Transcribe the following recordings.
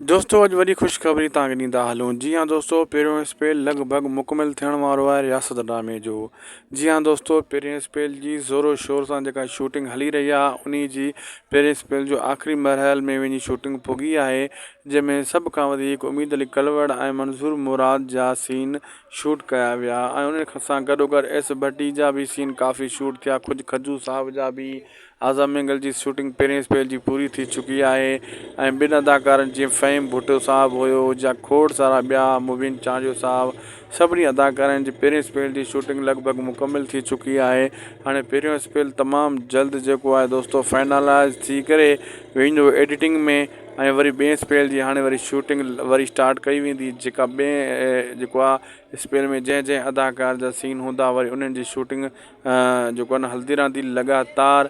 دوستو اڄ وڏي خوشخبري توهان کي ڏيندا هلون جي ها دوستو پهريون اسپيل لڳ ڀڳ مڪمل ٿيڻ وارو آهي رياست ڊرامي جو جي ها دوستو پهرين اسپيل جي زورو شور سان جيڪا شوٽنگ هلي رهي آهي انهي جي پهرين اسپيل جو آخري مرحل ۾ وڃي شوٽنگ پڳي آهي جنهن ۾ سڀ کان وڌيڪ اميد علي ڪلوڙ ۽ منظور مراد جا سين شوٽ ڪيا ويا ۽ انهن سان گڏوگڏ ايس ڀٽي جا به سين ڪافي شوٽ ٿيا کجي کجو صاحب جا به آزا مينگل جي شوٽنگ پهرين اسپيل جي پوري ٿي چڪي آهي ۽ ٻن اداڪارن جيئن فهيم ڀٽو صاحب هيو يا کوڙ سارا ٻيا مبين چانڊيو صاحب سڀني اداڪارن جي پهرين اسپيل جي شوٽنگ لڳ ڀڳ مڪمل ٿي چڪي آهي هاڻي پهريون اسپيل تمام جلد جيڪو آهي دوستو فائنلائز ٿي ڪري ويندو ايڊيٽنگ ۾ ۽ وري ٻئي اسپيل جي هاڻي وري شوٽنگ وري اسٽارٽ ڪئي ويندي جيڪا ٻئي جيڪو آهي اسپيل ۾ جنهن جنهن اداڪار جا سين هوندا وري انهن جي شوٽنگ جيڪو آھي نه ھلندي رھندي لڳاتار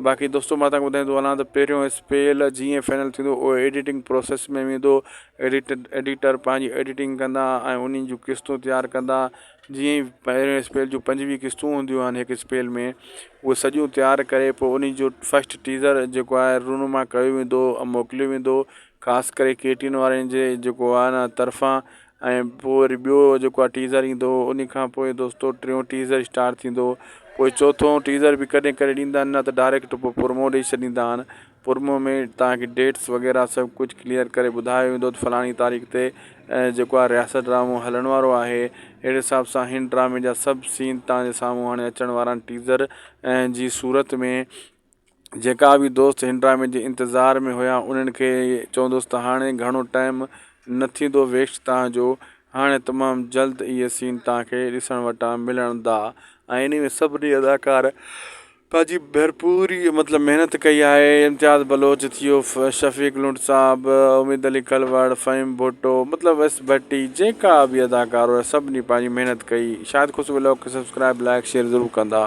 باقي دوستو مان تھانکي ٻڌائيندو ھلان ته پھريون اسپيل جيئن فائنل ٿيندو اھو ايڊيٽنگ پروسيس ۾ ويندو ايڊيٽ ايڊيٽر پنھنجي ايڊيٽنگ ڪندا ۽ انھن جون قسطون تيار ڪندا جيئن ئي پھريون اسپيل جون پنجويھ قسطون ھونديون آھن ھڪ اسپيل ۾ اھو سڄيون تيار ڪري پوء انھن جو فسٽ ٽيزر جيڪو آھي رونما ڪيو ويندو موڪليو ويندو خاص ڪري ڪي ٽي وين وارن جي جيڪو آھي نه طرفان ۽ پوء وري ٻيو جيڪو آ ٽيزر ايندو هو انهي کان پوء دوستو ٽيون ٽيزر اسٽارٽ ٿيندو هو پوء چوٿون ٽيزر به ڪڏهن ڪڏهن ڏيندا آهن نه ته ڊائريڪٽ پوء پرمو ڏئي ڇڏيندا آهن پرمو ۾ تهانکي ڊيٽس وغيره سڀ ڪجهه ڪليئر ڪري ٻڌايو ويندو ته فلاڻي تاريخ تي جيڪو آ رياست ڊرامو هلڻ وارو آهي اهڙي حساب سان هن ڊرامي جا سڀ سين تهانجي سامهون هاڻي اچڻ وارا آهن ٽيزر جي صورت ۾ جيڪا به دوست هن ڊرامي جي انتظار ۾ هيا انهن کي چوندس ته هاڻي گهڻو ٽائم نه ٿيندو ويسٽ تان جو هاڻي تمام جلد اهي سين تان کي ڏسڻ وٽان ملڻ دا ۽ انهي ۾ سڀني اداڪار پنهنجي ڀرپوري مطلب محنت ڪئي آهي امتياز بلوچ ٿيو شفيق لنڊ صاحب اميد علي کلوڙ فهيم ڀٽو مطلب ويس ڀٽي جيڪا به اداڪار هيا سڀني پنهنجي محنت ڪئي شايد خوش ولاگ کي سبسڪرائب لائڪ شيئر ضرور ڪندا.